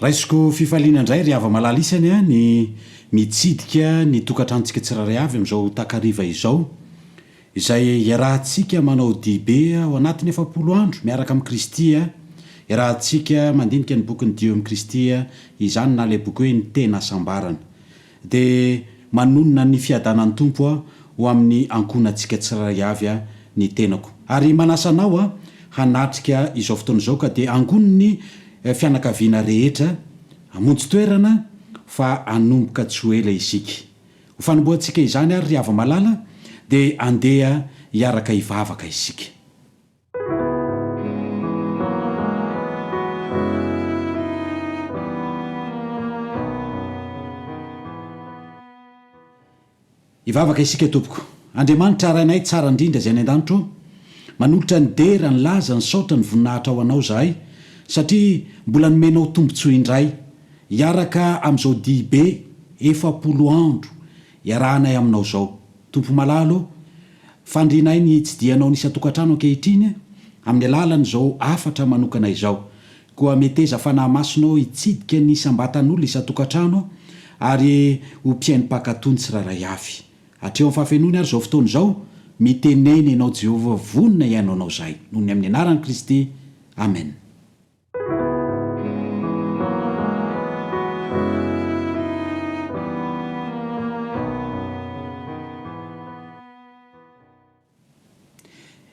Raisiko fifaliana indray ry hava-malala isany an ny mitsidika ny tokantranontsika tsirairay avy amin'izao takariva izao, izay iarahantsika manao dibe ao anatin'ny efapolo andro miaraka amin'i Kristy an, iarahantsika mandinika ny bokin'i Dieu amin'i Kristy an, izany na ilay boky hoe ny tena hasambarana. Dia manonona ny fiadanan'ny Tompo aho ho amin'ny ankohonantsika tsirairay avy ny tenako. Ary manasa anao aho hanatrika izao fotoana izao ka dia angono ny fianakaviana rehetra hamonjy toerana fa hanomboka tsy ho ela isika. Ho fanombohantsika izany ary ry hava-malala dia andeha hiaraka hivavaka isika. Hivavaka isika Tompoko. Andriamanitra Rainay tsara indrindra izay any an-danitra ô, manolotra ny dera, ny laza, ny saotra, ny voninahitra ho Anao izahay satria mbola nomenao tombontsoa indray hiaraka amin'izao dihibe efapolo andro Iarahanay aminao izao. Tompo malala ô, fandrinay ny hitsidihanao ny isan-tokantrano ankehitriny amin'ny alalan'izao hafatra manokana izao. Koa meteza Fanahy Masina ô hitsidika ny isam-batan'olona isan-tokantrano ary ho mpihaino mpankatò ny tsirairay avy. Hatreo amin'ny fahafenoany ary izao fotoana izao, mitenena ianao Jehovah, vonona hihaino anao izahay. Noho ny amin'ny anaran'i Kristy. Amena.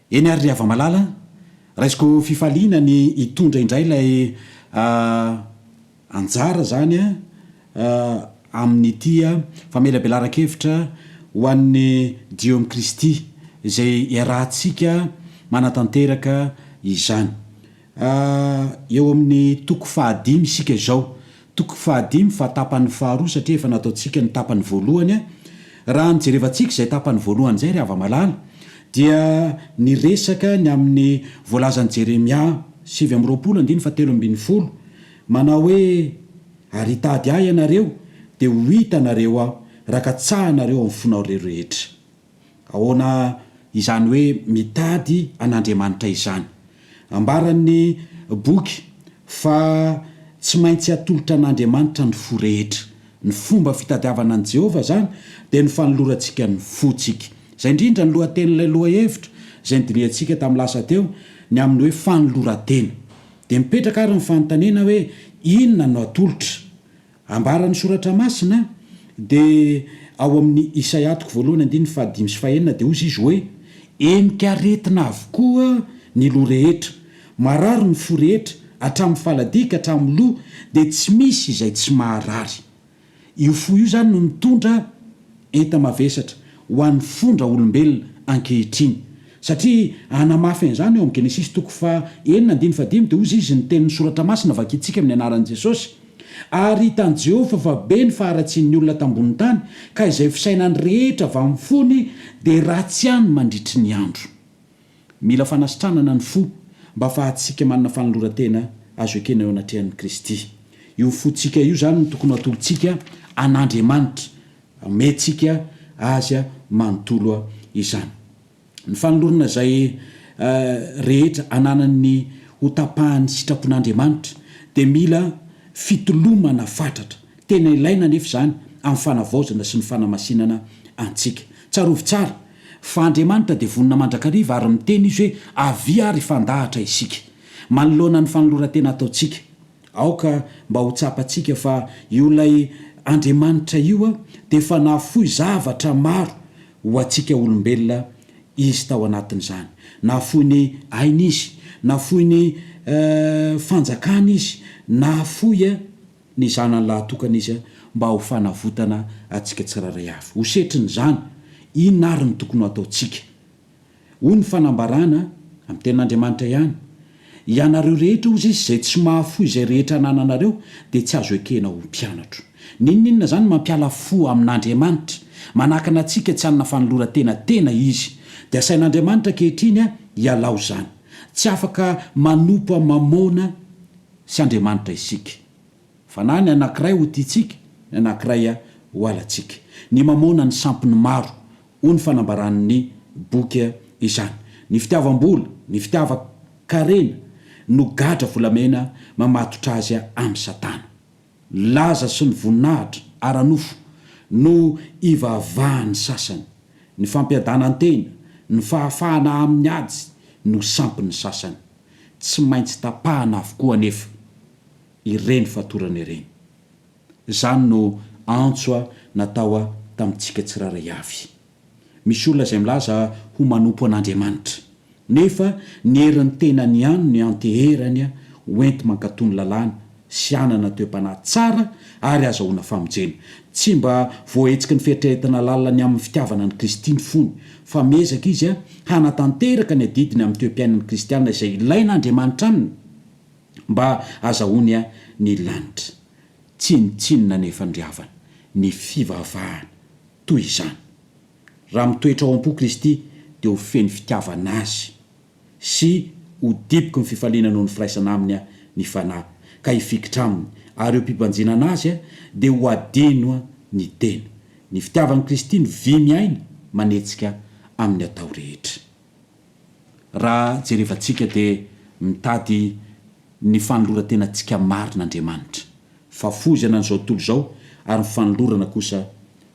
Eny ary ry hava-malala, raisiko fifaliana ny hitondra indray ilay anjara izany amin'ity famelabelaran-kevitra ho an'ny Jiômy Kristy izay iarahantsika manatanteraka izany. Eo amin'ny toko fahadimy isika izao. Toko fahadimy fa tapany faharoa satria efa nataontsika ny tapany voalohany. Raha ny jerevantsika izay tapany voalohany izay ry hava-malala dia niresaka ny amin'ny voalazan'i Jeremia sivy amby roapolo andininy fahatelo ambin'ny folo manao hoe, Ary hitady ahy ianareo, dia ho hita anareo aho, raha katsahanareo amin'ny fonao reroetra. Ahoana izany hoe mitady an'Andriamanitra izany? Ambaran'ny boky fa tsy maintsy atolotra an'Andriamanitra ny fo rehetra. Ny fomba fitadiavana an'i Jehovah izany dia ny fanolorantsika ny fontsika. Izay indrindra ny lohatenin'ilay lohahevitra izay nodinihantsika tamin'ny lasa teo, ny amin'ny hoe fanoloran-tena. Dia mipetraka àry ny fanontaniana hoe, Inona no atolotra? Ambaran'ny Soratra Masina, dia ao amin'ny Isaia toko voalohany andininy fahadimy sy fahenina, dia hozy izy hoe, Henika aretina avokoa ny loha rehetra, marary ny fo rehetra, hatramin'ny faladia ka hatramin'ny loha, dia tsy misy izay tsy maharary. Io fo io izany no mitondra enta-mavesatra ho an'ny fon-draolombelona ankehitriny. Satria hanamafy an'izany, ao amin'ny Genesisy toko faha enina andininy fahadimy, dia hozy izy, Ny Tenin'ny Soratra Masina vakintsika amin'ny anaran'i Jesosy, Ary hitan'i Jehovah fa be ny faharatsian'ny olona tambonin'ny tany, ka izay fisainany rehetra avy amin'ny fony dia ratsy ihany mandritry ny andro. Mila fanasitranana ny fo mba hahafahantsika manana fanoloran-tena azo ekena eo anatrehan'i Kristy. Io fontsika io izany no tokony ho atolotsika an'Andriamanitra, omentsika azy manontolo izany. Ny fanolorana izay rehetra ananan'ny ho tapahan'ny sitrapon'Andriamanitra dia mila fitolomana fatratra. Tena ilaina anefa izany amin'ny fanavaozana sy ny fanamasinana antsika. Tsarovy tsara fa Andriamanitra dia vonona mandrakariva ary miteny Izy hoe, Avia ary hifandahatra isika. Manoloana ny fanoloran-tena ataontsika Aoka mba ho tsapantsika fa io ilay Andriamanitra io dia efa nahafoy zavatra maro ho antsika olombelona Izy tao anatin'izany. Nahafoy ny aina Izy, nahafoy ny fanjakana Izy, nahafoy ny Zanany lahatokana Izy mba ho fanavotana antsika tsirairay avy. Ho setrin'izany, inona ary no tokony ho ataontsika? Hoy ny fanambarana, amin'ny Tenin'Andriamanitra ihany, Ianareo rehetra, hoy Izy, izay tsy mahafoy izay rehetra anananareo, dia tsy azo ekena ho mpianatro. N'inon'inona izany mampiala fo amin'Andriamanitra, manakana antsika tsy hanana fanoloran-tena tena Izy. Dia asain'Andriamanitra ankehitriny hialao izany. Tsy afaka manompo an'i Mamôna sy Andriamanitra isika. Fa na ny anankiray ho tiantsika, ny anankiray ho halantsika. Ny Mamôna ny sampin'ny maro, hoy ny fanambaran'ny boky izany. Ny fitiavam-bola, ny fitiavan-karena no gadra volamena mamatotra azy amin'i Satana. Ny laza sy ny voninahitra ara-nofo no ivavahan'ny sasany. Ny fampiadanan-tena, ny fahafahana amin'ny ady no sampin'ny sasany. Tsy maintsy tapahana avokoa anefa ireny fatorana ireny. Izany no antso a natao a tamintsika tsirairay avy. Misy olona izay milaza ho manompo an'Andriamanitra, nefa ny herin'ny tenany ihany no ianteherany a ho enti-mankatò ny lalàna sy hanana toe-panahy tsara ary hazahoana famonjena. Tsy mba voahetsiky ny fieritreretana lalina ny amin'ny fitiavana an'i Kristy ny fony, fa miezaka izy a hanatanteraka ny adidiny amin'ny toe-piainan'ny kristiana izay ilain'Andriamanitra aminy. Mba azahoany ahy ny lanitra. Tsinontsinona ny efandriavana, ny fivavahana, toy izany. Raha mitoetra ao am-po Kristy, dia ho feno fitiavana Azy, sy ho diboky ny fifaliana noho ny firaisana Aminy aho, ny Fanahy, ka hifikitra Aminy, ary eo am-pibanjinana Azy aho, dia ho hadino ny tena. Ny fitiavan'i Kristy no vy miaina, manetsika amin'ny atao rehetra. Raha jerevantsika dia mitady ny fanoloran-tenantsika marina Andriamanitra, fahafoizana an'izao tontolo izao ary ny fanolorana kosa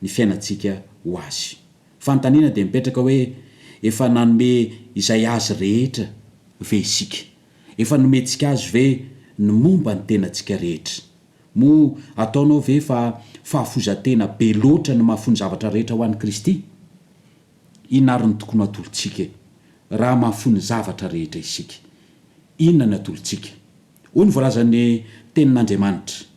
ny fiainantsika ho Azy. Fanontaniana dia mipetraka hoe, efa nanome izay Azy rehetra ve isika? Efa nomentsika Azy ve ny momba ny tenantsika rehetra? Moa ataonao ve fa fahafoizan-tena be loatra ny maha-fony zavatra rehetra ho an'i Kristy? Inona ary no tokony ho atolotsika e? Raha mahafoy ny zavatra rehetra isika, inona ny atolotsika? Hoy ny voalazan'ny Tenin'Andriamanitra,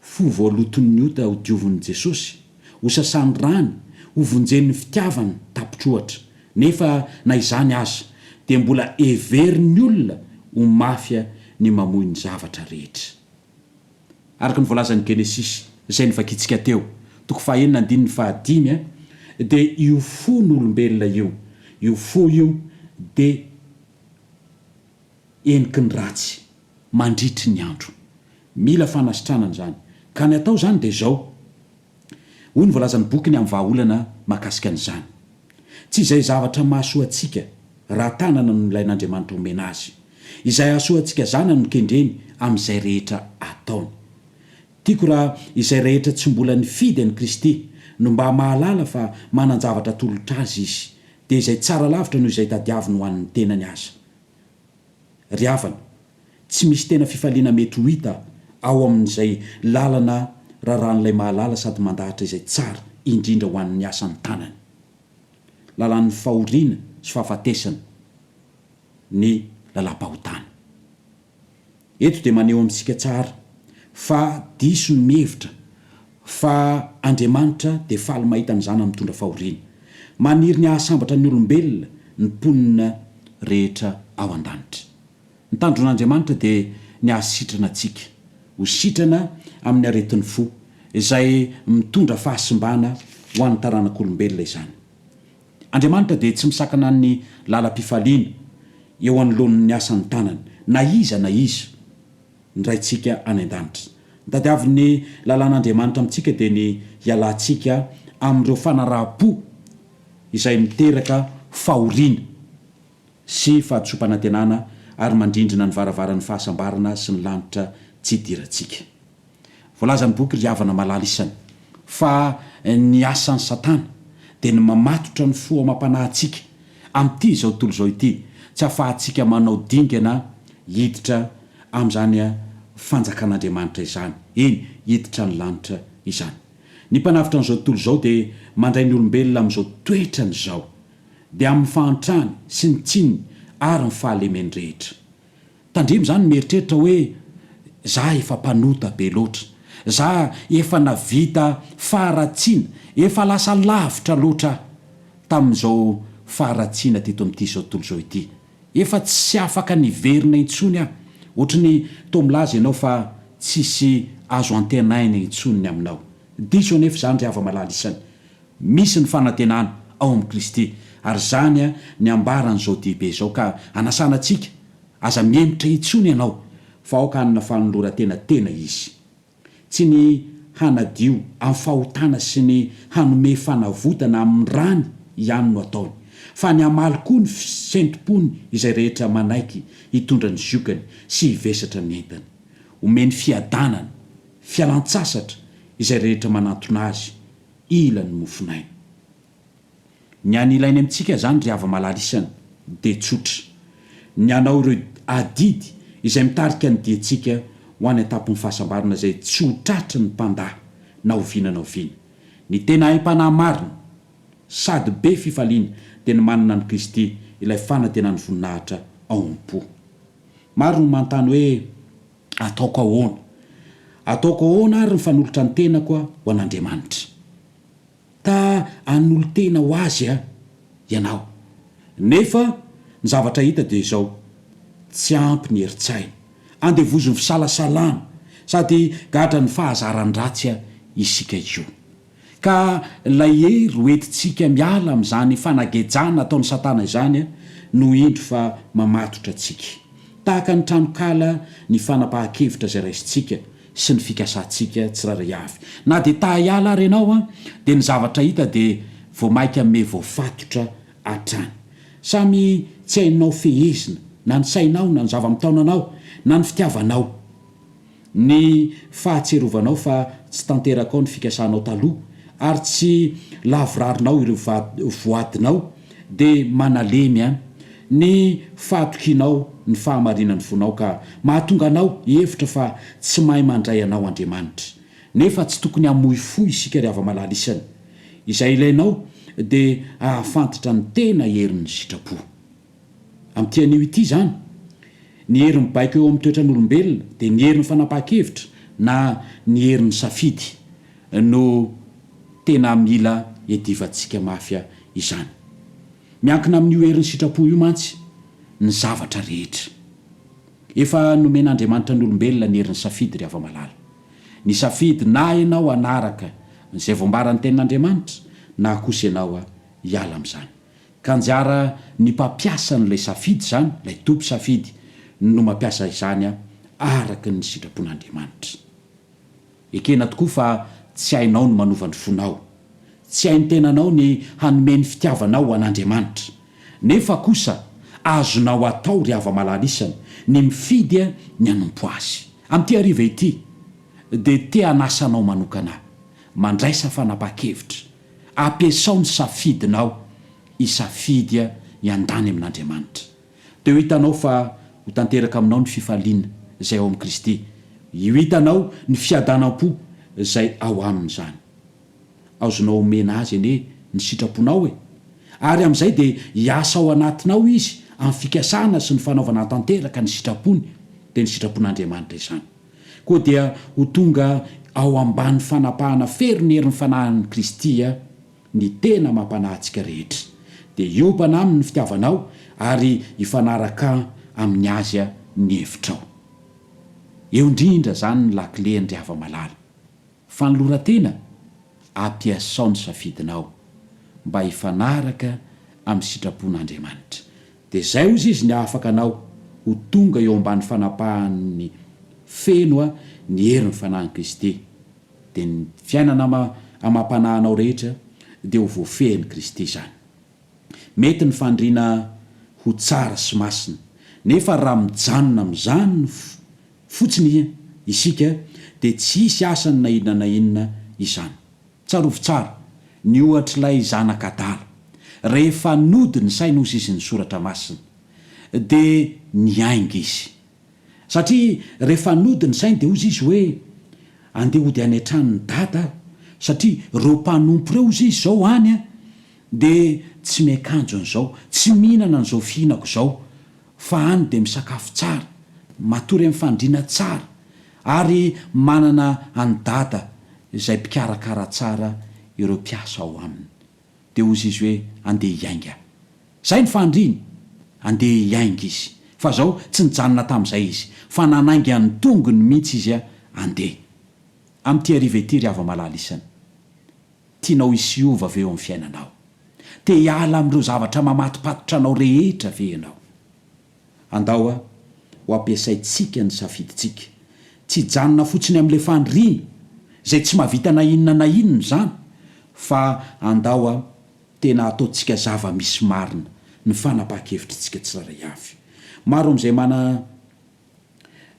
Fo voaloton'ny ota hodiovin'i Jesosy, hosasany rany, hovonjen'ny fitiavany tapitr'ohatra. Nefa na izany aza, dia mbola heverin'ny olona ho mafia ny mamoy ny zavatra rehetra. Araka ny voalazan'ny Genesisy, izay novakintsika teo, toko fahaenina andininy fahadimy, dia io fon'olombelona io, io fo io dia heniky ny ratsy mandritry ny andro. Mila fanasitranana izany. Ka ny atao izany dia izao. Hoy ny voalazan'ny bokiny amin'ny vahaolana mahakasika an'izany, Tsy izay zavatra mahasoa antsika ra tanana no nilain'Andriamanitra homena azy. Izay hahasoa antsika zanany no kendreny amin'izay rehetra ataony. Tiako raha izay rehetra tsy mbola nifidy an'i Kristy no mba mahalala fa manan-javatra atolotra azy Izy, dia izay tsara lavitra noho izay tadiaviny ho an'ny tenany aza. Ry havana, Tsy misy tena fifaliana mety ho hita ao amin'izay lalana rarahan'ilay mahalala sady mandahatra izay tsara indrindra ho an'ny asan'ny tanany. Lalan'ny fahoriana sy fahafatesana ny lalam-pahotana. Eto dia maneho amintsika tsara fa diso ny mihevitra fa Andriamanitra dia faly mahita ny zanany mitondra fahoriana. Maniry ny hahasambatra ny olombelona ny mponina rehetra ao an-danitra. Ny tandron'Andriamanitra dia ny hahasitrana antsika ho sitrana amin'ny aretin'ny fo, izay mitondra fahasimbana ho an'ny taranak'olombelona izany. Andriamanitra dia tsy misakana ny lalam-pifaliana eo anoloan'ny asan'ny tanany, na iza na iza. Ny Raintsika any an-danitra. Ny tadiavin'ny lalàn'Andriamanitra amintsika dia ny hialantsika amin'ireo fanaraham-po izay miteraka fahoriana. sy fahadisoam-panantenana ary mandrindrina ny varavaran'ny fahasambarana sy ny lanitra tsy idirantsika. Voalazan'ny boky Ry Havana Malala Isany fa ny asan'i Satana dia ny mamatotra ny fo amam-panahintsika amin'ity izao tontolo izao ity tsy ahafahantsika manao dingana hiditra amin'izany fanjakan'Andriamanitra izany, eny, hiditra ny lanitra izany. Ny mpanavotra an'izao tontolo izao dia mandray ny olombelona amin'izao toetrany izao. dia amin'ny fahantrany sy ny tsiny ary ny fahalemeny rehetra. Tandremo izany ny mieritreritra hoe, Za efa mpanota be loatra. Za efa navita faharatsiana, efa lasa lavitra loatra aho tamin'izao faharatsiana teto amin'ity izao tontolo izao ity. Efa tsy afaka ny hiverina intsony aho. Ohatry ny toa milaza ianao fa tsisy azo antenaina intsony ny aminao. Diso anefa izany ry hava-malala isany. Misy ny fanantenana ao amin'i Kristy, ary izany ny ambaran'izao dihibe izao, ka anasana antsika, Aza mihemotra intsony ianao, fa aoka hanana fanoloran-tena tena izy. Tsy ny hanadio amin'ny fahotana sy ny hanome fanavotana amin'ny rany ihany no ataony, fa ny hamaly koa ny fisen-tom-pony izay rehetra manaiky hitondra ny ziokany sy hivesatra ny entany. Omeny fiadanana, fialan-tsasatra izay rehetra manantona azy, Ila ny mofonaina. Ny any ilainy amintsika zany ry hava malala isany dia tsotra. Ny hanao ireo adidy izay mitarika ny diantsika ho any an-tampon'ny fahasambarana izay tsy ho tratry ny mpandà na oviana na oviana. Ny tena aim-panahy marina sady be fifaliana dia ny manana an'i Kristy ilay fanantenan'ny voninahitra ao am-po. Maro no manontany hoe. Ataoko ahoana? Ataoko ahoana ary ny fanolotra ny tenako ho an'Andriamanitra? Ta hanolo-tena ho Azy ianao. Nefa ny zavatra hita dia izao, tsy ampy ny herin-tsaina. Andevozin'ny fisalasalana, sady gadran'ny fahazaran-dratsy isika io. Ka ilay hery ho entintsika miala amin'izany fanagejana ataon'i Satana izany no indro fa mamatotra antsika. Tahaka ny tranonkala ny fanapahan-kevitra izay raisintsika sy ny fikasantsika tsirairay avy. Na dia ta-hiala ary ianao dia ny zavatra hita dia vao mainka miha voafatotra hatrany. Samy tsy hainao fehezina na ny sainao na ny zava-mitaona anao na ny fitiavanao. ny fahatsirovanao fa tsy tanterakao ny fikasanao taloha ary tsy lavirarinao ireo voadinao dia manalemy an ny fahatokianao ny fahamarinan'ny fonao ka mahatonga anao hihevitra fa tsy mahay mandray anao Andriamanitra nefa tsy tokony hamoy fo isika ry hava-malala isany izay ilainao dia hahafantatra ny tena herin'ny sitrapo Amin'ity anio ity izany, ny hery mibaiko eo amin'ny toetran'olombelona dia ny herin'ny fanapahan-kevitra na ny herin'ny safidy no tena mila iadivantsika mafy izany. Miankina amin'io herin'ny sitrapo io mantsy ny zavatra rehetra. Efa nomen'Andriamanitra ny olombelona ny herin'ny safidy ry hava-malala. Nisafidy na ianao hanaraka izay voambaran'ny Tenin'Andriamanitra na kosa ianao hiala amin'izany. Ka anjara ny mpampiasa an'ilay safidy izany, ilay toby safidy, no mampiasa izany araka ny sitrapon'Andriamanitra. Ekena tokoa fa tsy hainao ny manova ny fonao. Tsy hain'ny tenanao ny hanome ny fitiavanao ho an'Andriamanitra. Nefa kosa azonao atao, ry hava-malala isany, ny mifidy ny hanompo Azy. Amin'ity hariva ity, dia te-hanasa anao manokana, mandraisa fanapahan-kevitra, Ampiasao ny safidinao hisafidy hiandany amin'Andriamanitra. Dia ho hitanao fa ho tanteraka aminao ny fifaliana izay ao amin'i Kristy. Ho hitanao ny fiadanam-po izay ao aminy izany. Azonao omena Azy anie ny sitraponao e! Ary amin'izay dia hiasa ao anatinao Izy amin'ny fikasana sy ny fanaovana tanteraka ny sitrapony. Dia ny sitrapon'Andriamanitra izany. koa dia ho tonga ao ambany fanapahana fery ny herin'ny fanahin'i Kristy ny tena mampanahy antsika rehetra. Dia hiobana aminy ny fitiavanao ary hifanaraka amin'ny azy ny hevitrao. Eo indrindra izany ny lakile an-dry hava-malala. Fanoloran-tena, Ampiasao ny safidinao mba hifanaraka amin'ny sitrapon'Andriamanitra. Dia izay hozy izy ny ahafaka anao ho tonga eo ambany fanapahany feno ny herin'ny Fanahin'i Kristy. Dia ny fiainana ama amam-panahinao rehetra dia ho voafehin'i Kristy izany. Mety ny fandriana ho tsara sy masina, nefa raha mijanona amin'izany fotsiny isika dia tsy hisy asany na inona na inona izany. Tsarovy tsara ny ohatr'ilay zanaka adala. Rehefa nody ny sainy hozy izy ny Soratra Masina, dia niainga izy. Satria rehefa nody ny sainy dia hozy izy hoe, Andeha hody any an-tranon'i Dada aho, satria ireo mpanompo ireo hozy izy izao any dia tsy miakanjo an'izao, tsy mihinana an'izao fihinako izao, fa any dia misakafo tsara, matory amin'ny fandriana tsara. Ary manana an'i Dada izay mpikarakara tsara ireo mpiasa ao aminy. Dia hozy izy hoe, Andeha hiainga. Izay no fahandriny. Andeha hiainga izy. Fa izao, tsy nijanona tamin'izay izy, fa nanainga ny tongony mihitsy izy handeha. Amin'ity hariva ity, ry hava-malala isany. Tianao hisy hiova ve eo amin'ny fiainanao? Te hiala amin'ireo zavatra mamatopatotra anao rehetra ve ianao? Andao a! ho ampiasaintsika ny safidintsika. Tsy hijanona fotsiny amin'ilay faniriana, izay tsy mahavita na inona na inona izany, fa andao a! tena hataontsika zava-misy marina ny fanapahan-kevitritsika tsirairay avy. Maro amin'izay mana,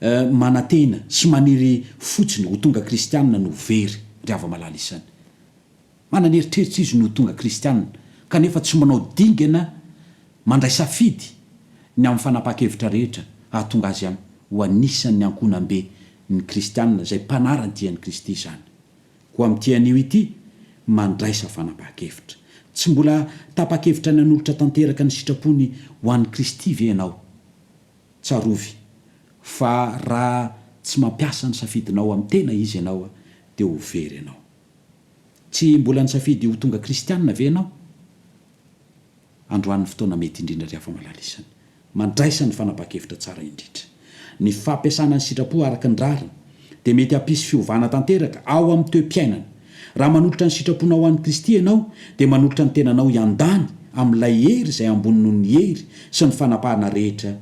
eh, manantena sy maniry fotsiny ho tonga kristianina no very, ry hava-malala isany. Manana eritreritra izy ny ho tonga kristiana, kanefa tsy manao dingana mandray safidy ny amin'ny fanapahan-kevitra rehetra hahatonga azy ho anisan'ny ankohonam-be ny kristiana izay mpanara ny dian'i Kristy izany. Koa amin'ity anio ity, mandraisa fanapahan-kevitra. Tsy mbola tapa-kevitra ny hanolotra tanteraka ny sitrapony ho an'i Kristy ve ianao? Tsarovy fa raha tsy mampiasa ny safidinao amin'ny tena Izy ianao, dia ho very ianao. Tsy mbola nisafidy ho tonga kristiana ve ianao? Androany ny fotoana mety indrindra ry afa-malalisany. Mandraisa ny fanapahan-kevitra tsara indrindra. Ny fampiasana ny sitrapo araka ny rariny dia mety hampisy fiovana tanteraka ao amin'ny toe-piainana. Raha manolotra ny sitraponao ho an'i Kristy ianao, dia manolotra ny tenanao hiandany amin'ilay hery izay ambony noho ny hery sy ny fanapahana rehetra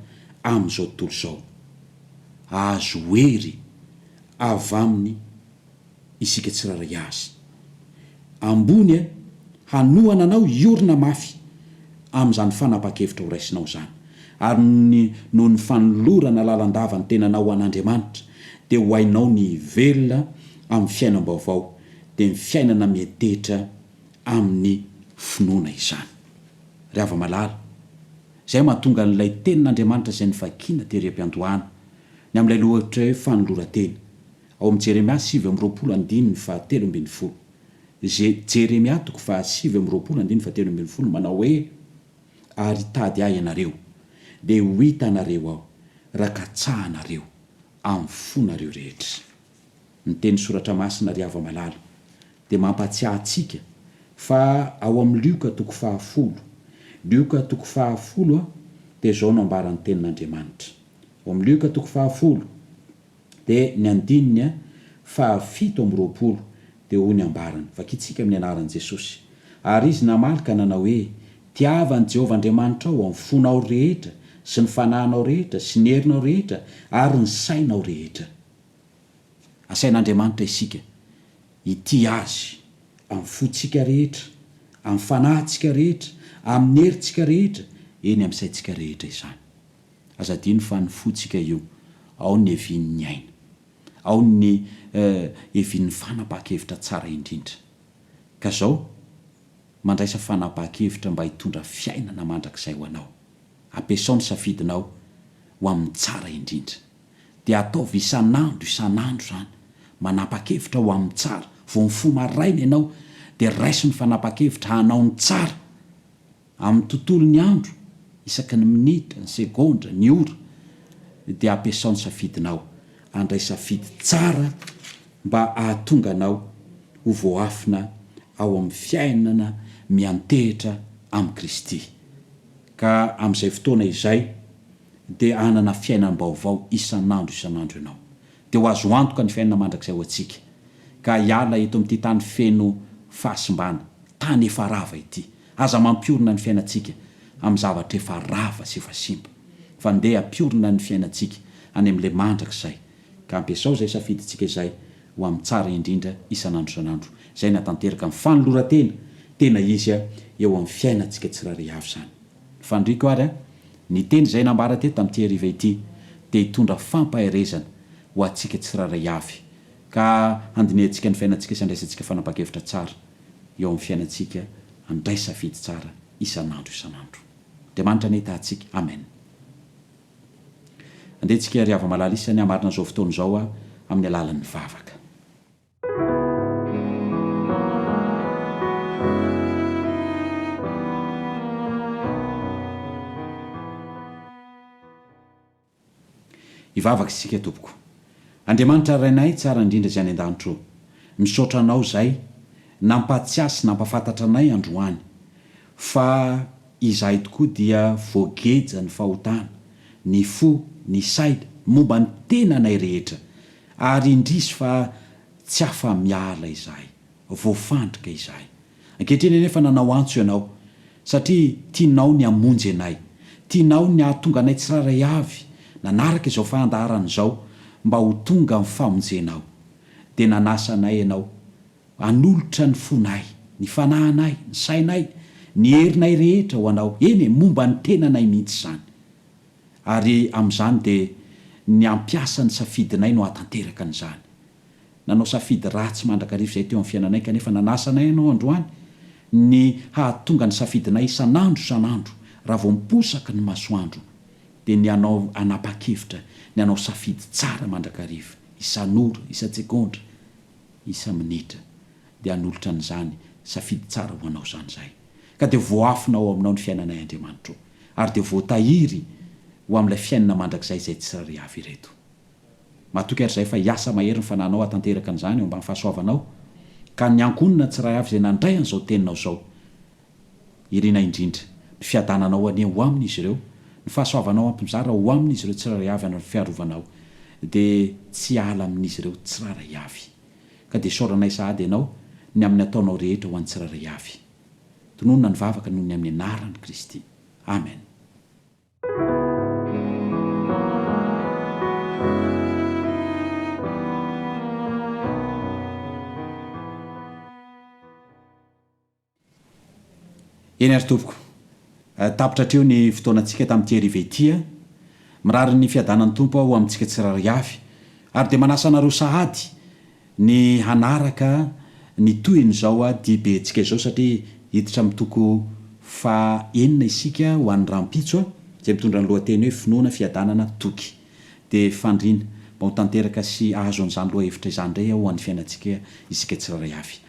amin'izao tontolo izao. Ahazo hery avy aminy. isika tsirairay azy. Ambony e, hanohana anao hiorina mafy amin'izany fanapahan-kevitra ho raisinao izany. Ary noho ny noho ny fanolorana lalandava ny tenanao ho an'Andriamanitra, dia ho hainao ny hivelona amin'ny fiainam-baovao, dia ny fiainana miantehitra amin'ny finoana izany. Ry hava-malala, izay mahatonga an'ilay Tenin'Andriamanitra izay novakina tery am-piandohana, ny amin'ilay lohateny hoe fanoloran-tena, Ao amin'ny Jeremia sivy amby roapolo andininy fahatelo ambin'ny folo. Je, Jeremia toko fahasivy amby roapolo andininy fahatelo ambin'ny folo manao hoe, Ary hitady Ahy ianareo, dia ho hita anareo Aho, raha katsahanareo amin'ny fonareo rehetra. Ny teny Soratra Masina ry hava malala dia mampahatsiahy antsika fa ao amin'ny Lioka toko fahafolo, Lioka toko fahafolo a, dia izao no ambaran'ny Tenin'Andriamanitra. Ao amin'ny Lioka toko fahafolo. Dia ny andininy fahafito amby roapolo dia hoy ny ambarany, Vakintsika amin'ny anaran'i Jesosy. Ary izy namaly ka nanao hoe, Tiava an'i Jehovah Andriamanitrao amin'ny fonao rehetra sy ny fanahinao rehetra sy ny herinao rehetra ary ny sainao rehetra. Asain'Andriamanitra isika hitia azy amin'ny fontsika rehetra, amin'ny fanahintsika rehetra, amin'ny herintsika rehetra, eny amin'ny saintsika rehetra izany. Aza adino fa ny fontsika io ao ny evin ny aina. Ao ny eh, evin ny fanapaha-kevitra tsara indrindra. Ka zao, mandraisa fanapaha-kevitra mba hitondra fiainana mandrakizay ho anao. Ampiasao ny safidinao ho amin ny tsara indrindra. Dia ataovy isan andro isan andro izany. Manapa-kevitra ho amin ny tsara. Vao mifoha maraina ianao dia raiso ny fanapaha-kevitra hanao ny tsara. Amin'ny tontolon'ny andro, isaky ny minitra, ny segondra, ny ora, dia ampiasao ny safidinao. Handray safidy tsara mba hahatonga anao ho voaafina ao amin'ny fiainana miantehitra amin'i Kristy, ka amin'izay fotoana izay dia hanana fiainam-baovao isan'andro isan'andro ianao. dia ho azo antoka ny fiainana mandrakizay ho antsika, ka hiala eto amin'ity tany feno fahasimbana, tany efa rava ity. Aza mampiorina ny fiainantsika amin'ny zavatra efa rava sy efa simba, fa ndeha ampiorina ny fiainantsika any amin'ilay mandrakizay, ka ampiasao izay safidintsika izay ho amin'ny tsara indrindra isan'andro isan'andro. Izay nahatanteraka ny fanoloran-tena tena izy eo amin'ny fiainantsika tsirairay avy izany. Ny faniriako ary an, ny teny izay nambara teto tamin'ity hariva ity dia hitondra fampaherezana ho antsika tsirairay avy, ka handinihantsika ny fiainantsika sy handraisantsika fanapahan-kevitra tsara eo amin'ny fiainantsika, handray safidy tsara isan'andro isan'andro. Andriamanitra anie hitahantsika. Amen. Andeha antsika ry hava-malala isany hamarina an'izao fotoana izao amin'ny alalan'ny vavaka. Hivavaka isika tompoko. Andriamanitra Rainay tsara indrindra izay any an-danitra ô. Misaotra Anao izay nampahatsiahy sy nampafantatra anay androany fa izahay tokoa dia voageja ny fahotana, ny fo, ny saina, momba ny tenanay rehetra. Ary indrisy fa tsy afa-miala izahay. Voafandrika izahay. Ankehitriny anefa nanao antso Ianao, satria tianao ny hamonjy anay. Tianao ny hahatonga anay tsirairay avy nanaraka izao fandaharana izao mba ho tonga amin'ny famonjenao. Dia nanasa anay Ianao hanolotra ny fonay, ny fanahinay, ny sainay, ny herinay rehetra ho Anao, eny e, momba ny tenanay mihitsy izany. Ary amin'izany dia ny hampiasa ny safidinay no hahatanteraka an'izany. Nanao safidy ratsy mandrakariva izay teo amin'ny fiainanay kanefa nanasa anay Ianao androany ny hahatonga ny safidinay isan'andro isan'andro raha vao miposaka ny masoandro dia ny hanao hanapa-kevitra ny hanao safidy tsara mandrakariva isan'ora, isan-tsegondra, isa-minitra. dia hanolotra an'izany safidy tsara ho anao izany izahay, ka dia voafina ao aminao ny fiainanay Andriamanitra ô, ary dia voatahiry ho amin'ilay fiainana mandrakizay izay tsy rary avy ireto. Matoky ary izahay fa hiasa mahery ny Fanahinao hahatanteraka an'izany eo ambany fahasoavanao, ka ny ankohonana tsy rary avy izay nandray an'izao teninao izao. Iriana indrindra, ny fiadananao anie ho amin'izy ireo, ny fahasoavanao hampizara ho amin'izy ireo tsy rary avy ary ny fiarovanao dia tsy hiala amin'izy ireo tsy rary avy. ka dia isaoranay sahady Ianao ny amin'ny ataonao rehetra ho an'ny tsirairay avy. Tononina ny vavaka noho ny amin'ny anaran'i Kristy. Amen. Eny ary tompoko. Tapitra hatreo ny fotoanantsika tamin'ity hariva ity a! Mirary ny fiadanan'ny Tompo aho ho amintsika tsirairay avy, ary dia manasa anareo sahady ny hanaraka ny tohin'izao dibentsika izao satria hiditra amin'ny toko faha enina isika ho an'ny rahampitso a! izay mitondra ny lohateny hoe Finoana, Fiadanana, Toky. Dia fandriana mba ho tanteraka sy hahazo an'izany lohahevitra izany indray aho ho an'ny fiainantsika isika tsirairay avy.